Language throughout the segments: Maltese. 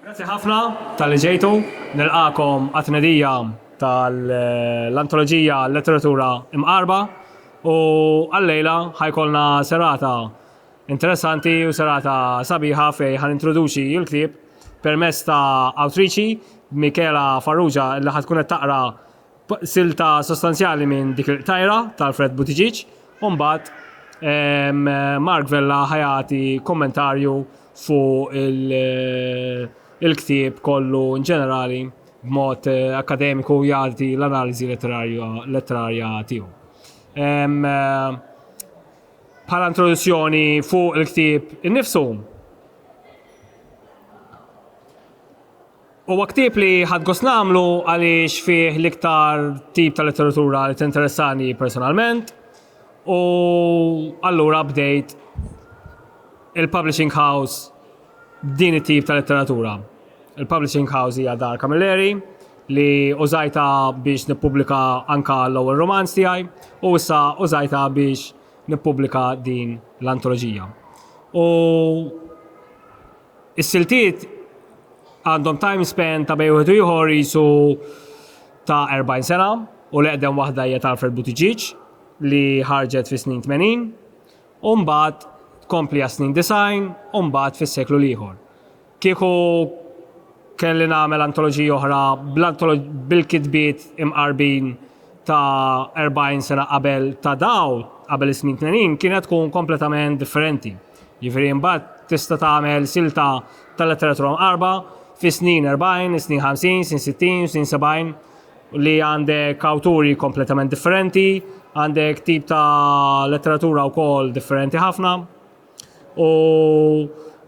Grazzi ħafna tal-li ġejtu, nilqakom għat-tnedija tal-antoloġija Letteratura Imqarba u għal-lejla ħajkolna serata interessanti u serata sabiħa fej ħan introduċi il-klib permess ta' awtriċi Michaela Farrugia li ħatkun qed taqra silta sostanzjali minn dik il-qtajra ta' Alfred Buttigieg u mbagħad ehm, Mark Vella ħajati kommentarju fuq il-ktieb kollu in ġenerali b'mod eh, akademiku jagħti l-analiżi letterarja tiegħu. Ehm, bħala introduzzjoni fuq il-ktieb innifsu. Huwa ktieb li ħadt gost nagħmlu għaliex fih l-iktar tip ta' letteratura li tinteressani personalment u allura bdejt il-publishing house b'din it-tip ta' letteratura. Il-publishing house hija Dar Camilleri li użajtha biex nippubblika anke l-ewwel rumanz tiegħi u issa użajtha biex nippubblika din l-antoloġija. U Is-siltiet għandhom time span ta' bejn wieħed u ieħor qisu ta' 40 sena u l-eqdem waħda hija ta' Alfred Buttigieg li ħarġet fis-snin 80 u mbagħad tkompli għas-snin 90 u mbagħad fis-seklu l-ieħor. Kieku kelli nagħmel antoloġija oħra bil-kitbiet imqarbin ta' 40 sena qabel ta' daw, qabel is-snin 80, kienet tkun kompletament differenti. Jiġifieri mbagħad tista' tagħmel silta tal-letteratura mqarba fis-snin 40, is-snin 50, snin 60, snin 70 li għandek awturi kompletament differenti, għandek tip ta' letteratura wkoll differenti ħafna. U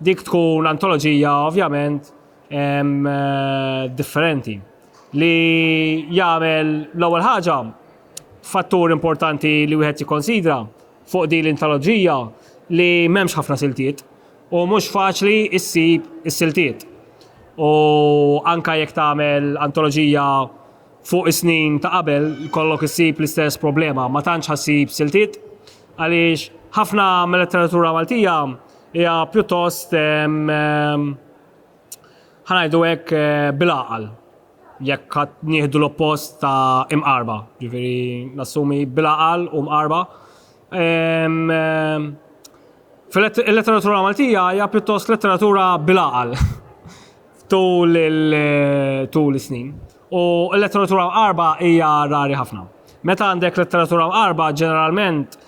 dik tkun antoloġija ovvjament eh, differenti li jagħmel l-ewwel ħaġa fattur importanti li wieħed jikkonsidra fuq din l-intoloġija li m'hemmx ħafna siltiet u mhux faċli ssib is-siltiet. U anke jekk tagħmel antoloġija fuq is-snin ta' qabel kollok issib l-istess problema, ma tantx ħassib siltiet għaliex ħafna mil-letteratura Maltija hija pjuttost ehm, ehm, ħa ngħidu hekk, bil-għaqal, jekk ħadd nieħdu l-oppost ta' imqarba, ġifieri nassumi bil-għaqal u mqarba. Fil-letteratura Maltija hija pjuttost letteratura bil-għaqal tul tul is-snin. U l-letteratura mqarba hija rari ħafna. Meta għandek letteratura mqarba ġeneralment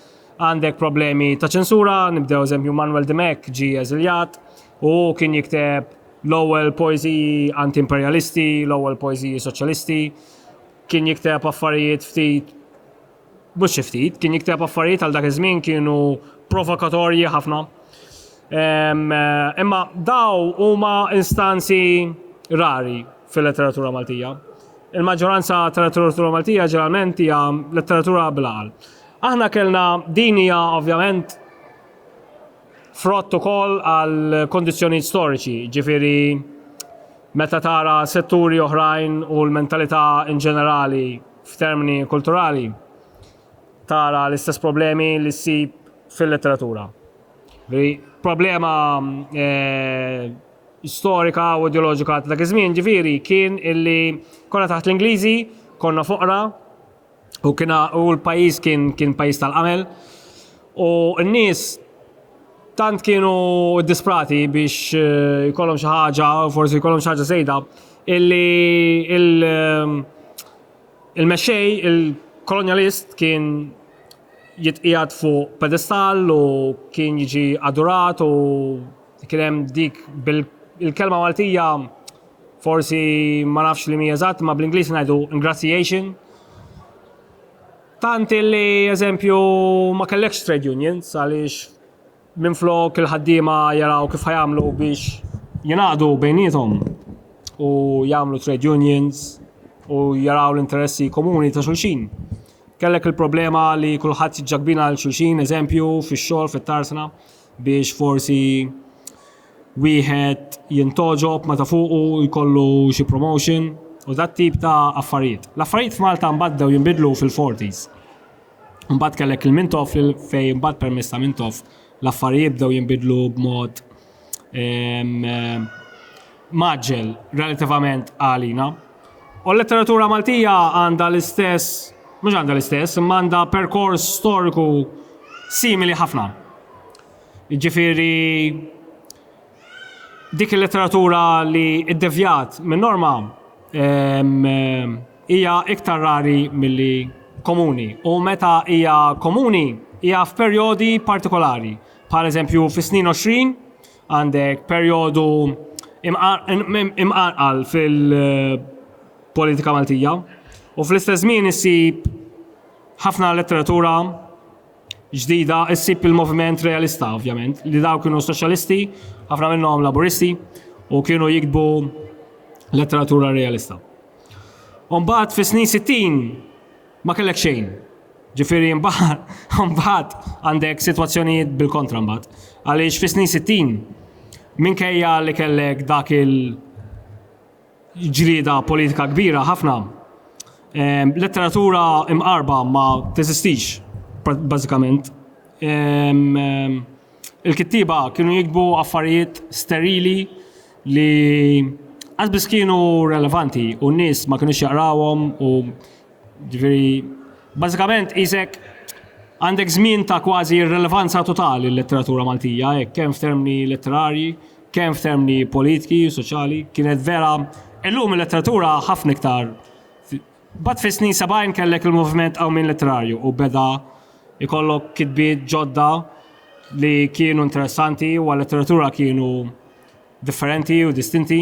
għandek problemi ta' ċensura, nibdew eżempju Manuel Dimech ġie eżiljat, Hu kien jikteb l-ewwel poeżiji anti-imperjalisti, l-ewwel poeżiji soċjalisti, kien jikteb affarijiet ftit mhux xi ftit, kien jikteb affarijiet għal dak iż-żmien kienu provokatorji ħafna. Imma daw huma instanzi rari fil-letteratura Maltija. Il-maġġoranza tal-letteratura Maltija ġeneralment hija letteratura bil-għal. Aħna kellna din hija ovvjament Frott ukoll għal kundizzjonijiet storiċi, jiġifieri meta tara setturi oħrajn u l-mentalità in ġenerali f'termini kulturali, tara l-istess problemi li ssib fil-letteratura. Ġifieri problema storika u ideoloġika ta' dak iż-żmien, ġifieri, kien illi konna taħt l-Ingliżi, konna foqra, U kien u l-pajjiż kien kien pajjiż tal-qamel u n-nies tant kienu disprati biex eh, jkollhom xi ħaġa, forsi jkollhom xi ħaġa żejda, illi eh, il-mexxej, il-kolonjalist kien jitqijat fuq pedestal u kien jiġi adurat u kien hemm dik bil-kelma Maltija Forsi ma nafx li mi eżatt, ma bl-Ingliż ngħidu ingratiation. Tant li eżempju ma kellekx trade unions għaliex minn flok il-ħaddiema jaraw kif ħajamlu biex jingħaqdu bejnietom u jagħmlu trade unions u jaraw l-interessi komuni ta' xulxin. Kellek il-problema li kulħadd ġakbina għal xulxin, eżempju, fix-xogħol, fit-tarsna, biex forsi wieħed jintgħoġob meta fuqu jkollu xi promotion u dat tip ta' affarijiet. L-affarijiet f'Malta mbagħad bdew jinbidlu fil-40s. Mbagħad kellek il-Mintoff li fejn mbagħad permezz ta' Mintoff l-affarijiet bdew jinbidlu b'mod ehm, maġġel relativament għalina. U l-letteratura Maltija għandha l-istess, mhux għandha l-istess, imma għandha perkors storiku simili ħafna. Jiġifieri dik il-letteratura li ddevjat minn norma hija iktar rari milli komuni u meta hija komuni hija f'perjodi partikolari. Bħal eżempju fis-snin 20 għandek perjodu imqanqal fil-politika Maltija u fl-istess żmien issib ħafna letteratura ġdida ssib il-moviment realista, ovvjament, li daw kienu soċjalisti, ħafna minnhom laburisti, u kienu jikbu letteratura realista. Umbat fis snin 60 ma kellek xejn. Ġifiri mbagħad għandek sitwazzjonijiet bil-kontra mbagħad. Għaliex fis snin 60 minkejja li kellek dak il- ġlieda politika kbira ħafna. Letteratura imqarba ma teżistix bażikament. Il-kittieba kienu jiktbu affarijiet sterili li qas biss kienu relevanti u n-nies ma kinux jaqrawhom u ġifieri bażikament qisek għandek żmien ta' kważi irrelevanza totali l-letteratura Maltija hekk kemm f'termini letterarji kemm f'termini politiki, soċjali, kienet vera illum il-letteratura ħafna iktar. Bat fis snin 70 kellek il-moviment qawmin letterarju u beda ikollok kitbiet ġodda li kienu interessanti u għal-letteratura kienu differenti u distinti.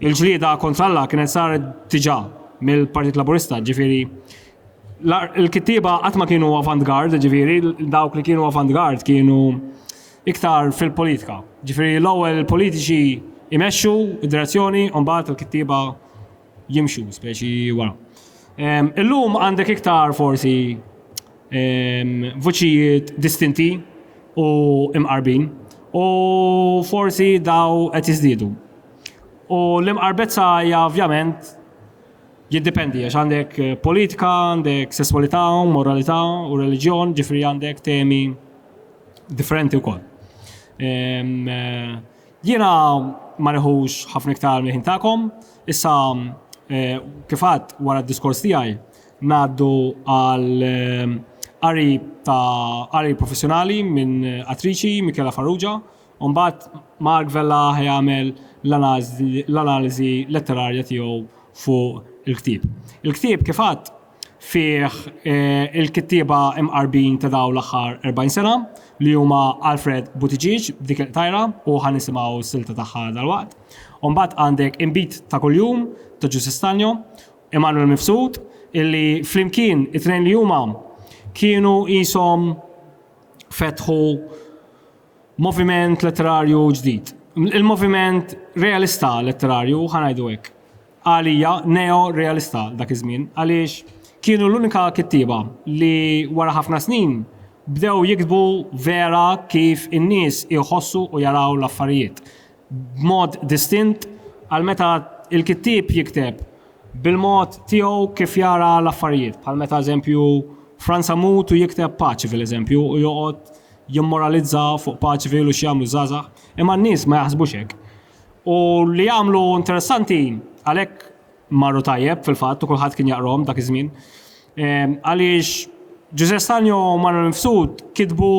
Il-ġlieda kontra Alla kienet saret diġà mill-Partit Laburista, ġifieri il-kittieba qatt ma kienu avant-garde, ġifieri dawk li kienu avant-garde kienu iktar fil-politika. Ġifieri l-ewwel il-politiċi jmexxu d-direzzjoni u mbagħad il-kittieba jimxu speċi wara. Illum għandek iktar forsi Vuċijiet distinti u imqarbin u forsi daw qed jiżdiedu. U l-imqarbezza hija ovvjament jiddipendi għax għandek politika, għandek sesswalità, moralità u reliġjon, ġifieri għandek temi differenti wkoll. Jiena ma nieħux ħafna iktar mill-ħin tagħkom, issa kif għedt wara d-diskors tiegħi Ngħaddu għal qari ta' qari professjonali minn attriċi, Michela Farrugia, u mbagħad Mark Vella ħa jagħmel l-analiżi letterarja tiegħu fuq il-ktieb. Il-ktieb, kif għadt, fih il-kittieba mqarbin ta' dawn l-aħħar 40 sena, li huma Alfred Buttigieg b'dik il-qtajra, u ħa nisimgħu s-silta tagħha dalwaqt. U mbagħad għandek Inbid ta' Kuljum ta' Ġużi Stagno, Emmanuel Mifsud, illi flimkien it-tnejn li huma kienu qishom fetħu moviment letterarju ġdid. Il-moviment realista letterarju, ħa ngħidu hekk. Għalija neo-realista dak iż-żmien għaliex kienu l-unika kittieba li wara ħafna snin bdew jiktbu vera kif in-nies iħossu u jaraw l-affarijiet. b'mod distint għal meta l-kittieb jikteb bil-mod tiegħu kif jara l-affarijiet, bħal meta eżempju Frans Amoud u jikteb Paċivil eżempju u joqgħod jimmoralizza fuq Paċivil u x'jagħmlu ż-żgħażagħ, imma n-nies ma jaħsbux hekk. U li jagħmlu interessanti għalhekk Marru tajjeb fil-fatt u kulħadd kien jaqrom dak iż-żmien. Ehm, għaliex Ġuże Stanjo u Manuel Mifsud kitbu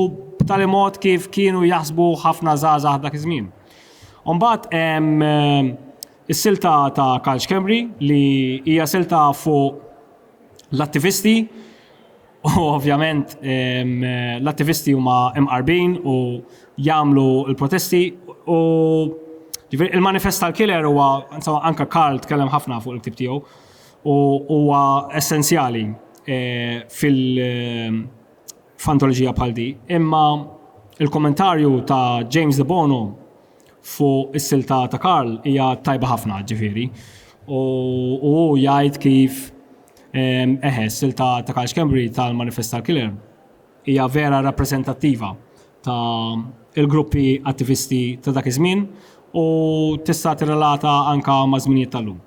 b'tali mod kif kienu jaħsbu ħafna żgħażagħ dak iż-żmien. Umbagħad hemm ehm, is-silta ta' Karl Kemri li hija silta fuq l-attivisti U ovvjament l-attivisti huma imqarbin u jagħmlu l-protesti u ġifieri il-manifest tal-killer huwa insomma anke Karl tkellem ħafna fuq il-ktieb tiegħu u huwa essenzjali eh, fil- eh, f'antoloġija bħal di. Imma il-kommentarju ta' James De Bono fuq is-silta ta' ta' Karl hija tajba ħafna ġifieri. U hu jgħid kif ehm, eħe, s-silta ta' Karl Schembri tal-Manifest tal-Killer hija vera rappreżentattiva ta' il-gruppi attivisti ta' dak iż-żmien u tista' tirrelata anka ma' żminijiet tal-lum.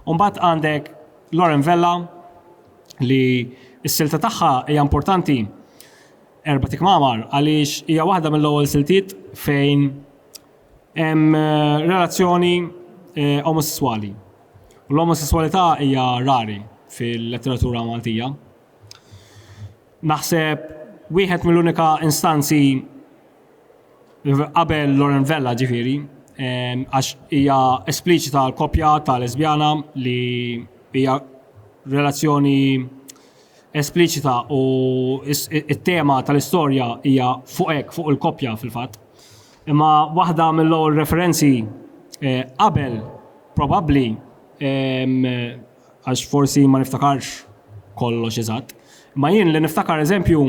Umbagħad għandek Lauren Vella li s-silta tagħha hija importanti Erba' tikmamar għaliex hija waħda mill-ewwel siltiet fejn hemm eh, relazzjoni eh, omosessuali. U l-omosessualità hija rari fil-letteratura Maltija. Naħseb wieħed mill-unika instanzi qabel Loren Vella ġifiri, għax hija espliċita l-kopja ta' lesbjana li hija relazzjoni espliċita u t-tema tal-istorja hija fuq hekk, fuq il-koppja fil-fatt. Imma waħda mill-ewwel referenzi eh, qabel probabbli għax forsi ma niftakarx kollox eżatt. Ma jien li niftakar eżempju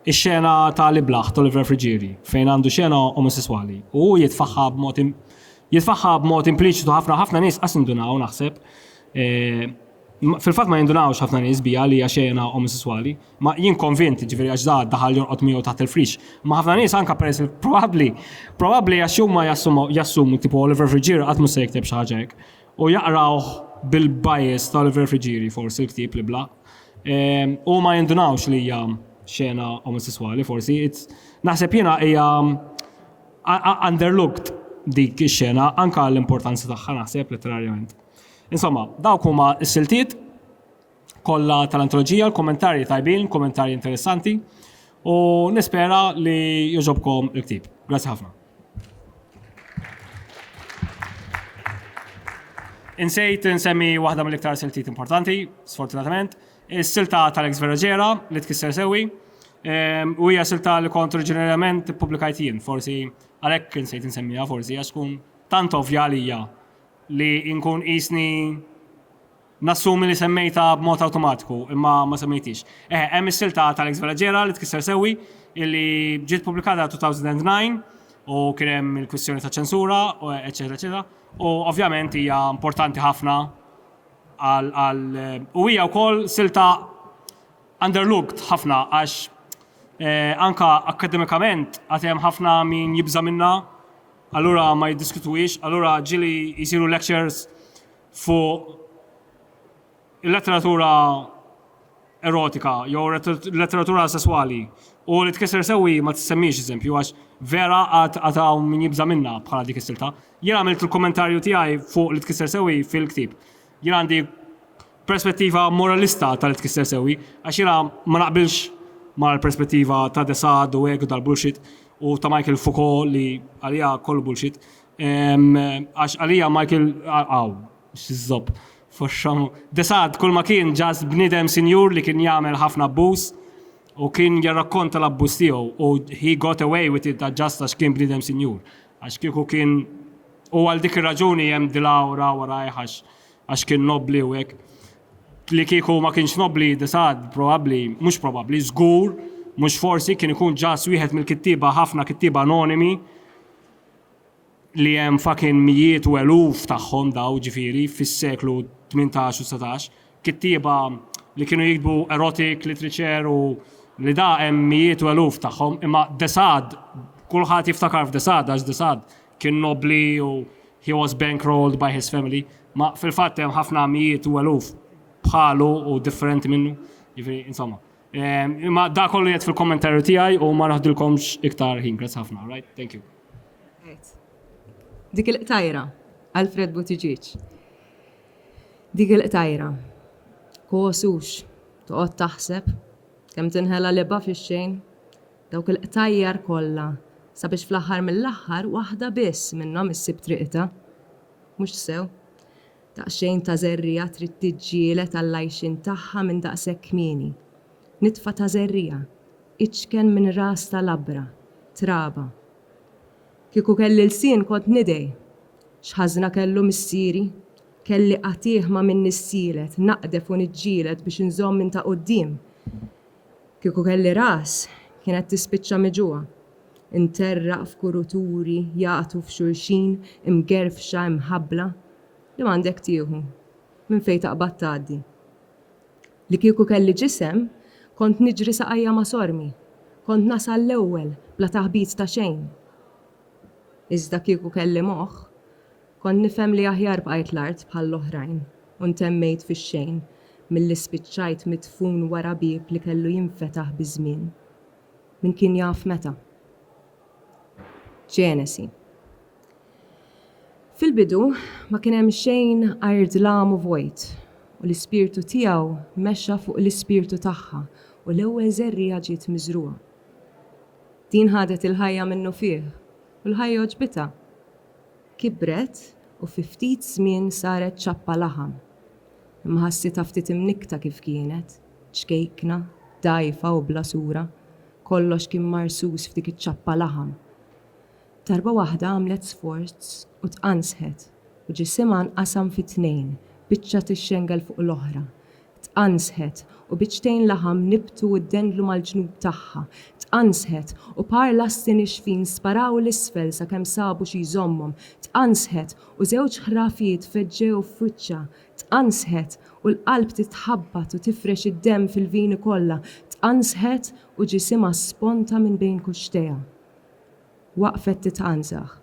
ix-xena ta' li blaħ Oliver Frigieri fejn għandu xena omosessuali u jitfaħħa b'mod jitfaħħa b'mod impliċitu ħafna ħafna nies qas indunaw naħseb eh, Fil-fatt ma jindunawx ħafna nies biha li hija xena omosesswali. Ma jien konvint, ġifieri għax da daħal jorqod miegħu taħt il-frix. Imma ħafna nies anke peress li probabbli, probabbli għax huma jassumu tipo Oliver Friggieri qatt mhux se jikteb xi ħaġa hekk. U jaqrawh bil-bias ta' Oliver Friggieri forsi l-ktieb li blaq. U ma jindunawx li hija xena omosesswali forsi. Naħseb jiena hija underlooked dik ix-xena anke għall-importanza tagħha naħseb letterarjament. Insomma, dawk huma s-siltiet kollha tal-antoloġija, l-kummentarji tajbin, kummentarji interessanti u nispera li jogħġobkom il-ktieb. Grazzi ħafna. Insejt insemmi waħda mill-iktar siltiet importanti, sfortunatament, is-silta tal-ex Veragera li tkisser sewi. Ehm, u hija silta li kont oriġinarjament publikajt jien, forsi għalhekk insejt insemmiha forsi għax tkun tant ovvja għalija li nkun qisni nassumi li semmejtha b'mod awtomatiku, imma ma semmejthiex. Eħe, hemm is-silta ta' Alex Velaġera li tkisser sewwi, illi ġiet ppubblikata 2009 u kien hemm il-kwistjoni ta' ċensura, eċċetera eċċetera. U ovvjament hija importanti ħafna għal għal u hija wkoll silta underlooked ħafna għax anka akkademikament għad hemm ħafna min jibża' minnha Allura ma jiddiskutuhiex, allura ġieli jsiru lectures fuq il-letteratura erotika jew letteratura sesswali u li tkisser sewwi ma tissemmix eżempju għax vera għad għad hawn min jibża' minnha bħala dik is-silta. Jien għamilt il-kummentarju tiegħi fuq li tkisser sewwi fil-ktieb. Jien għandi perspettiva moralista ta' li tkisser sewwi, għax jiena ma naqbilx mal-perspettiva ta' de Sade u hekk u dal-bullshit u ta' Michael Foucault li għalija kollu bullshit. Għax għalija Michael aw, x'żopp, foxxom. De Sade kull ma kien just bniedem sinjur li kien jagħmel ħafna abbuż u kien jirrakkonta l-abbuż tiegħu u he got away with it just għax kien bniedem sinjur. Għax kieku kien U għal dik ir-raġuni hemm dil-awra warajh għax kien nobbli u hekk. Li kieku ma kienx nobbli disad probabbli, mhux probabbli, żgur, mhux forsi kien ikun ġas wieħed mill-kittieba ħafna kittieba anonimi li hemm fucking mijiet u eluf tagħhom daw ġifieri fis-seklu 18 u 19 Kittieba li kienu jiktbu erotic literature u li da hemm mijiet u eluf tagħhom, imma de Sade kulħadd jiftakar f'de Sade għax de Sade kien nobbli u he was bankrolled by his family, ma fil-fatt hemm ħafna mijiet u eluf bħalu u differenti minnu, jiġifieri insomma. Imma da kollu jgħid fil-kommentarju tiegħi u ma naħdilkomx iktar ħin. Grazzi ħafna, right? Thank you. Dik il-qtajra, Alfred Buttigieg. Dik il-qtajra, Kosux, toqgħod taħseb, kemm tinħela libha fix-xejn. Dawk il-qtajjar kollha, sabiex fl-aħħar mill-aħħar waħda biss minnhom issib triqitha. Mhux sew. Daqsxejn ta' żerriegħa trid tiġġieled għall-għajxien tagħha minn daqshekk kmieni. Nitfa ta' żerriegħa, iċken minn ras ta' labra, traba. Kieku kelli lsien kont nidgħi. X'ħażna kellu missieri? Kelli qatiegħ ma' min nissielet, naqdef u niġġieled biex inżomm min ta' quddiem. Kieku kelli ras, kienet tispiċċa miġugħa. Interraq f'kuruturi jagħtu f'xulxin, imgerfxa, imħabbla. Li m'għandek tieħu. Minn fejn taqbad tgħaddi. Li kieku kelli ġisem, kont niġri saqajja ma' sormi, kont nasal l-ewwel bla taħbit ta' xejn. Iżda kieku kelli moħħ, kont nifhem li aħjar bqajt l-art bħall-oħrajn u ntemmejt fix-xejn milli spiċċajt midfun wara bieb li kellu jinfetaħ biż-żmien. Min kien jaf meta? Ġenesi. Fil-bidu ma kien hemm xejn għajr dlam u vojt, u l-Ispirtu tiegħu mexa fuq l-ispirtu tagħha u l-ewwel żerriegħa ġiet miżrugħa. Din ħadet il-ħajja minnufih u l-ħajja għoġbitha. Kibret u fi ftit żmien saret ċappa laħam. Imma ħassitha ftit imnikkta kif kienet, ċkejkna, dgħajfa u bla sura, kollox kien marsus f'dik iċ-ċappa laħam. Darba waħda għamlet sforz u tqanżħet u ġisimha nqasam fi tnejn, biċċa tixxengel fuq l-oħra. Tqanżħet u biċċtejn laħam nibtu u ddendlu mal-ġnub tagħha. Tqanżħet u par lasti nixfin sparaw 'l isfel sakemm sabu xi jżommhom. Tqanżħet u żewġ ħrafiet feġġew f'wiċċha. Tqanżħet u l-qalb titħabbat u tifrex id-demm fil-vini kollha. Tqanżħet u ġisimha sponta minn bejn kuxxtejha. Waqfet titgħanżaħ,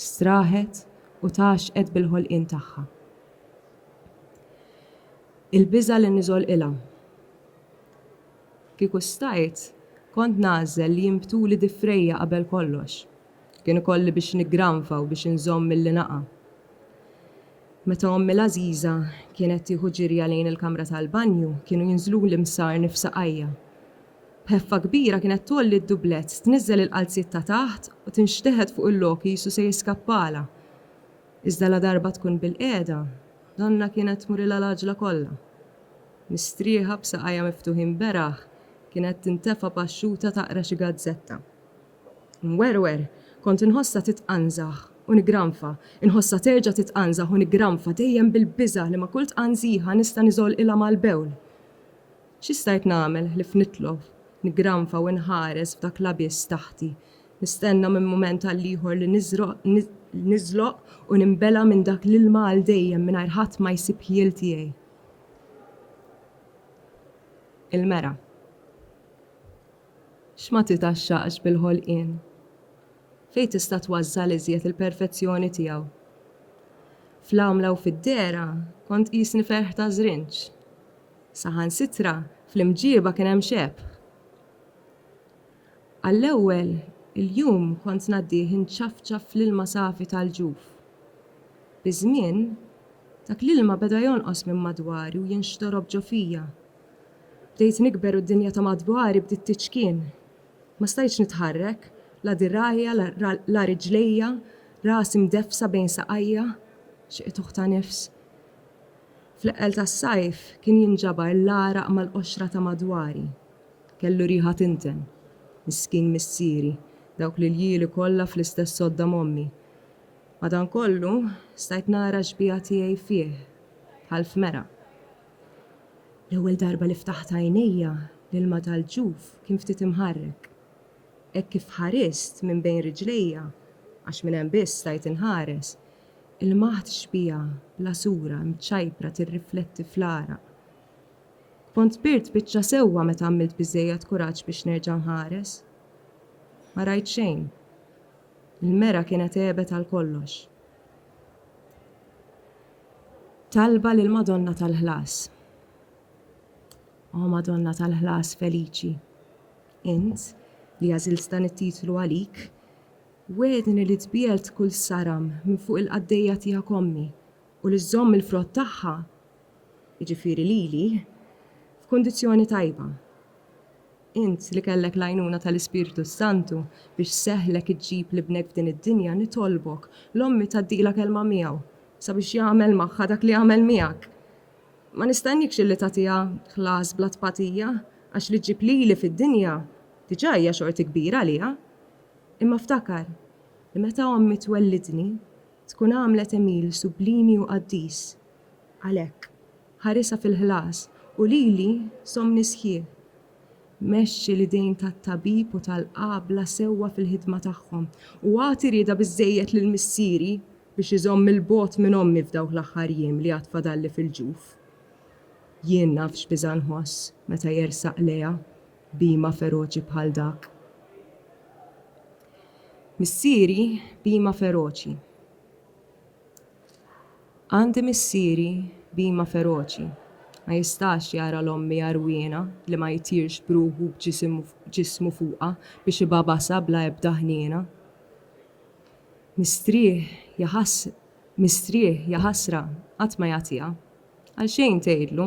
straħet u tgħaxxqet bil-ħolqien tagħha. Il-biża' li niżolqilha. Kieku stajt, kont nagħżel li jinbtuli difrejja qabel kollox. Kien ikolli biex niggranfa u biex inżomm milli naqa'. Meta ommi l-għażiża kienet tieħu ġirja lejn il-kamra tal-banju, kienu jinżluli msar nifsaqajja. B'ħeffa kbira kienet tgħolli d-dublett, tniżżel il-qalziet ta' taħt u tinxteħet fuq il-lok qisu se jiskappalha. Iżda ladarba tkun bilqiegħda, donnha kienet tmurilha l-għaġla kollha. Mistrieħa, b'saqajha miftuħin beraħ, kienet tintefa' paxxuta taqra xi gazzetta. Inwerwer, kont inħossha titqanżaħ u nigranfa, inħossha terġa' titqanżaħ u nigranfa dejjem bil-biża' li ma' kull tqanżiħa nista' niżolqilha mal-bewl. Xi stajt nagħmel ħlief nitlof, niggranfa u inħares f'dak l-abiss taħti, nistenna minn mument għal ieħor li niżloq u ninbela' minn dak l-ilma għal dejjem mingħajr ħadd ma jsib ħjiel tiegħi? Il-mera. X'ma titgħaxxaqx bil-ħolqien? Fejn tista' tważżal iżjed il-perfezzjoni tiegħu? Fl-għamla u fid-dehra kont tqisni ferħ ta' żrinġ. Saħansitra fl-imġieba kien hemm xebh. Għall-ewwel il-jum kont ngħaddih inċafċaf fl-ilma safi tal-ġuf. Biż-żmien, dak l-ilma beda jonqos minn madwari u jinxtorob ġo fija. Bdejt nikber u d-dinja ta' madwari bdiet tiċkien. Ma stajtx nitħarrek, la dirgħajja, la riġlejja, rasi mdeffsa bejn saqajja. Xi qtuħ ta' nifs! Fl-eqqel tas-sajf kien jinġabar l-għaraq mal-qoxra ta' madwari. Kellu riħa tinten. Miskin missieri, dawk l-iljieli kollha fl-istess sodda m'ommi. Madankollu, stajt nara x-xbieha tiegħi fih, bħal f'mera. L-ewwel darba li ftaħt għajnejja, l-ilma tal-ġuf kien ftit imħarrek. Hekk kif ħarist minn bejn riġlejja, għax minn hemm biss stajt inħares, Il-maħt xbieha, bla sura, imċajpra tirrifletti fl-għaraq. Kont kbirt biċċa sewwa meta għamilt biżżejjed kuraġġ biex nerġa' nħares. Ma rajt xejn. Il-mera kienet għebet għal kollox. Talba lill-Madonna tal-Ħlas O Madonna tal-Ħlas feliċi, int li għażilt dan it-titlu għalik, Wegħedni li tbiegħed kull saram minn fuq il-qaddejja tiegħek ommi, u li żżomm il-frott tagħha, jiġifieri lili, f'kundizzjoni tajba. Int li kellek l-għajnuna tal-Ispirtu s-Santu biex seħħlek iġġib l-ibnek f'din id-dinja nitolbok l-ommi tgħaddilha kelma miegħu sabiex jagħmel magħha dak li għamel miegħek. Ma nistenniekx illi tagħtiha ħlas bla tpatija għax li ġġib lili fid-dinja diġà hija xorti kbira għaliha. Imma ftakar li meta ommi twellidni, tkun għamlet Emil sublimi u qaddis. Għalhekk, ħarisha fil-ħlas u lili żommni sħiħ. Mexxi l-idejn tat-tabib u tal-qabla sewwa fil-ħidma tagħhom u agħti rieda biżżejjed lil missieri biex iżomm 'il bogħod minn ommi f'dawk l-aħħar jiem li għad fadalli fil-ġuf. Jien naf x'biża' nħoss meta jersaq lejha bhima feroċi bħal dak. Missieri bhima feroċi. Għandi missieri bhima feroċi. Ma jistax jara 'l ommi għarwiena li ma jtirx b'ruħu b'ġismu fuqha biex ibagħbasha bla ebda ħniena. Mistrieħ, ja mistrieħ, ja ħasra, qatt ma jagħtiha. Għalxejn tgħidlu.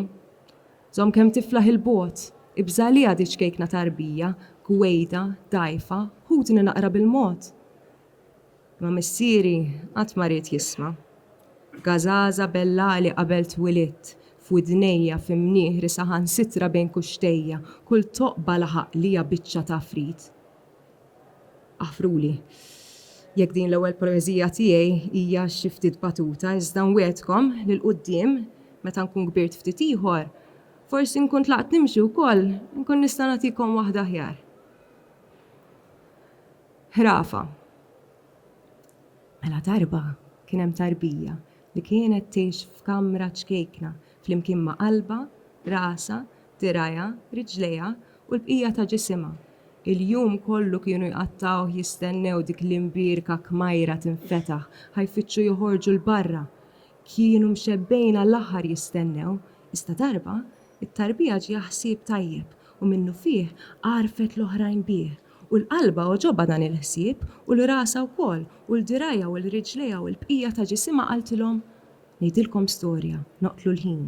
Żomm kemm tiflaħ 'il bogħod, ibża' għaliha di ċkejkna ta' għarbija, gwejda, dgħajfa, ħudni naqra bil-mod! Imma missieri qatt ma ried jisma'. Gażaża bellagħli qabel twilidt, f'widnejja, fi mnieħri, saħansitra bejn kuxxtejja, kull toqba laħaq lija biċċa t'għafrit. Aħfruli jekk din l-ewwel poeżija tiegħi hija xi ftit batuta iżda nwegħedkom li 'l quddiem meta nkun kbirt ftit ieħor forsi nkun tlaqt nimxi wkoll inkun nista' nagħtikom waħda aħjar. Ħrafa Mela darba kien hemm tarbija li kienet tgħix f'kamra ċkejkna flimkien ma' qalbha, rasha, dirgħajha, riġlejha u l-bqija ta' ġisimha. Il-jum kollu kienu jqattgħuh jistennew dik l-imbierka kmajra tinfetaħ, ħa jfittxu joħorġu 'l barra. Kienu mxebbgħin għall-aħħar jistennew, iżda darba, it-tarbija ġieha ħsieb tajjeb u minnufih għarrfet l-oħrajn bih. U l-qalbha għoġobha dan il-ħsieb u 'l rasha wkoll u 'l dirgħajha u 'l riġlejha u l-bqija ta' ġisimha qaltilhom, Ngħidilkom storja, noqtlu l-ħin.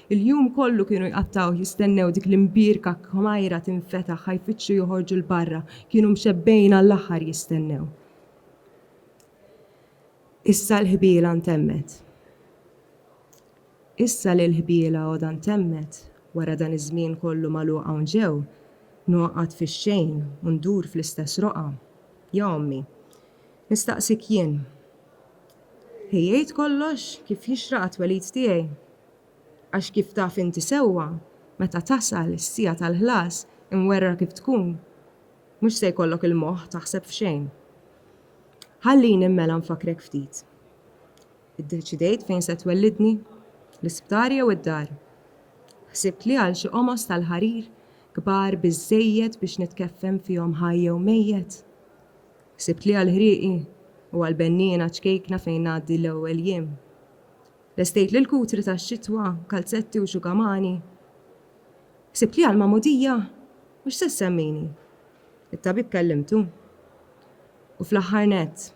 Il-jum kollu kienu jqattgħuh jistennew dik l-imbierka kmajra tinfetaħ ħa jfittxu joħorġu 'l barra, kienu mxebbgħin għall-aħħar jistennew. Issa l-ħbiela ntemmet. Issa li l-ħbiela għodha ntemmet, wara dan iż-żmien kollu magħluq hawn ġew, ngħoqgħod fix-xejn u ndur fl-istess roqgħa. Ja ommi. Nistaqsik jien. Ħejjejt kollox kif jixraq għat-twelid tiegħi? Għax kif taf inti sewwa, meta tasal is-siegħa tal-ħlas, imwerwra kif tkun, mhux se jkollok il-moħħ taħseb f'xejn. Ħallini mela nfakkrek ftit. Iddeċidejt fejn se twellidni? L-isptar jew id-dar? Ħsibt li għal xi qomos tal-ħarir, kbar biżżejjed biex nitkeffen fihom ħaj jew mejjet? Ħsibt li għall-ħrieqi u għall-benniena ċkejkna fejn ngħaddi l-ewwel jiem? Lestejt lil kutri tax-xitwa, kalzetti u xugamani. Ħsibt li għall-magħmudija, u x'se ssemmini? It-tabib kellimtu. U fl-aħħar nett,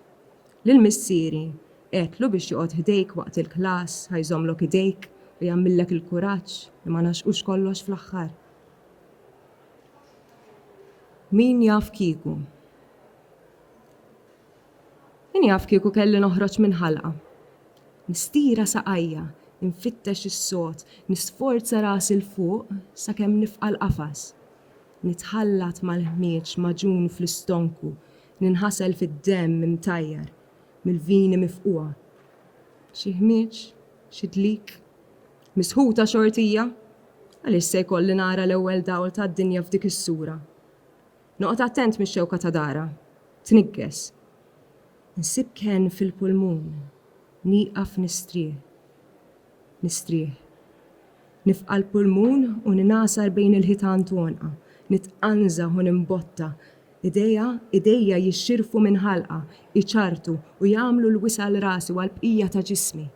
lil missieri, għedtlu biex joqgħod ħdejk waqt il-klass, ħa jżommlok idejk u jagħmillek il-kuraġġ li ma naxqux kollox fl-aħħar. Min jaf kieku. Min jaf kieku kelli noħroġ minn ħalqa. Nistira saqajja, infittex is-sod, nisforza rasi 'l fuq sakemm nifqa' l-qafas. Nitħallat mal-ħmieġ magħġun fl-istonku, ninħasel fid-demm imtajjar mill-vini mifqugħa. Xi ħmieġ, xi dlik. Misħuta xortija! Għaliex se jkolli nara l-ewwel dawl tad-dinja f'dik is-sura? Noqgħod attent mix-xewka ta' dara tniggess. Nsib kenn fil-pulmun, nieqaf nistrieħ. Nistrieħ. Nifqa' l-pulmun u ningħasar bejn il-ħitan tonqha, nitqanżaħ u nimbotta. Idejha, idejja jixxirfu minn ħalqha, iċarrtu u jagħmlu l-wisa' għal rasi u għall-bqija ta' ġismi.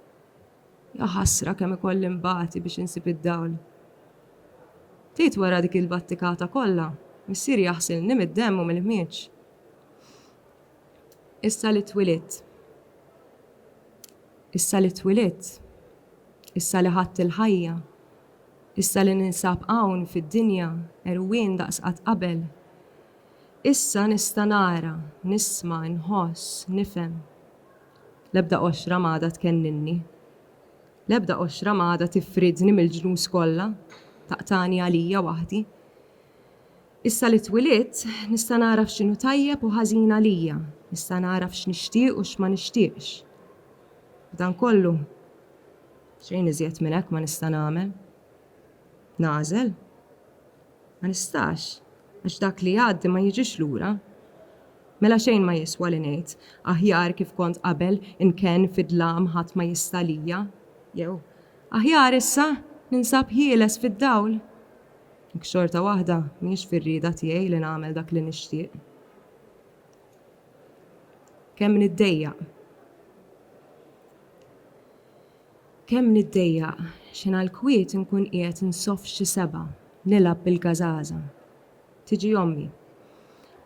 Jaħasra kemm ikolli nbati biex insib id-dawl. Ftit wara dik il-battikata kollha, missieri aħsilni mid-demm u mill-ħmieġ. Issa li twilidt. Issa li twilidt. Issa li ħadt il-ħajja. Issa li ninsab hawn fid-dinja, għerwien daqs qatt qabel. Issa nista' nara, nisma', inħoss, nifhem. L-ebda qoxra m'għadha tkennilni. L-ebda qoxra ma għadha tifridni mill-ġnus kollha, taqtagħni għalija waħdi. Issa li twilidt, nista' nagħraf x'inhu tajjeb u ħażin għalija, nista' nagħraf x'nixtieq u x'ma nixtieqx. B'dan kollu, xejn iżjed minn hekk ma nista' nagħmel. Nagħżel. Ma nistax, għax dak li jgħaddi ma jiġix lura. Mela xejn ma jiswa li ngħid, aħjar kif kont qabel inkenn fid-dlam ħadd ma jista' għalija, jew, aħjar issa ninsab ħieles fid-dawl, jekk xorta waħda mhijiex fir-rieda tiegħi li nagħmel dak li nixtieq. Kemm niddejjaq. Kemm niddejjaq, xi ngħall-kwiet inkun qiegħed nsoff xi sebgħa, nilgħab bil-gażaża. Tiġi ommi.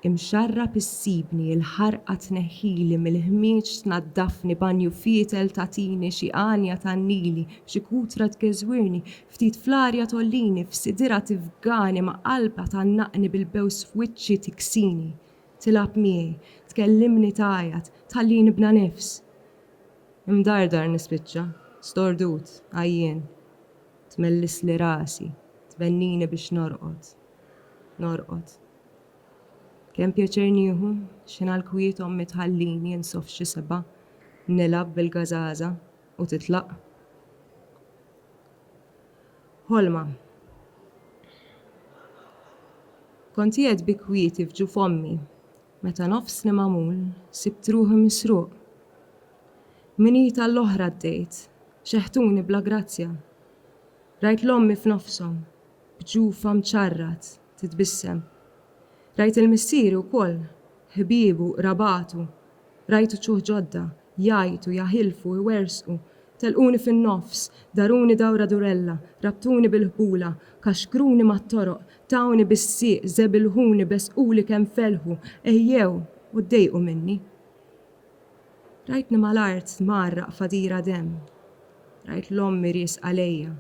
Imxarrab issibni, il-ħarqa tneħħili mill-ħmieġ tnaddafni, banju fietel tagħtini, xi għanja tgħannili, xi kutra tgeżwirni, ftit fl-arja tgħollini, f'sidirha tifgani, ma' qalbha tgħannaqni bil-bews f'wiċċi tiksini. Tilgħab miegħi, tkellimni tgħajjat, tħallini bla nifs. Imdardar nispiċċa, stordut, għajjien. Tmellisli rasi, tbennini biex norqod. Norqod. Kemm pjaċir nieħu, x'ħin għall-kwiet ommi tħallini insoff f'xi seba', nilgħab bil-gażaża u titlaq. Ħolma. Kont qiegħed bi kwieti f'ġuf ommi, Meta nofsni magħmul, sibt ruħi misruq. Minn id għal oħra għaddejt, xeħtuni bla grazzja. Rajt 'l ommi f'nofshom, b'ġufha mċarrat, titbissem. Rajt 'il missieri wkoll, ħbiebu, qrabatu, rajt uċuħ ġodda, jgħajtu, jaħilfu, iwerżqu, Telquni fin-nofs, daruni dawra durella, rabtuni bil-ħbula, kaxkruni mat-toroq, tawni bis-sieq, żebilħuni, besquli kemm felħu, għejjew u ddejqu minni. Rajtni mal-art tmarraq f'għadira demm. Rajt 'l ommi riesqa lejja,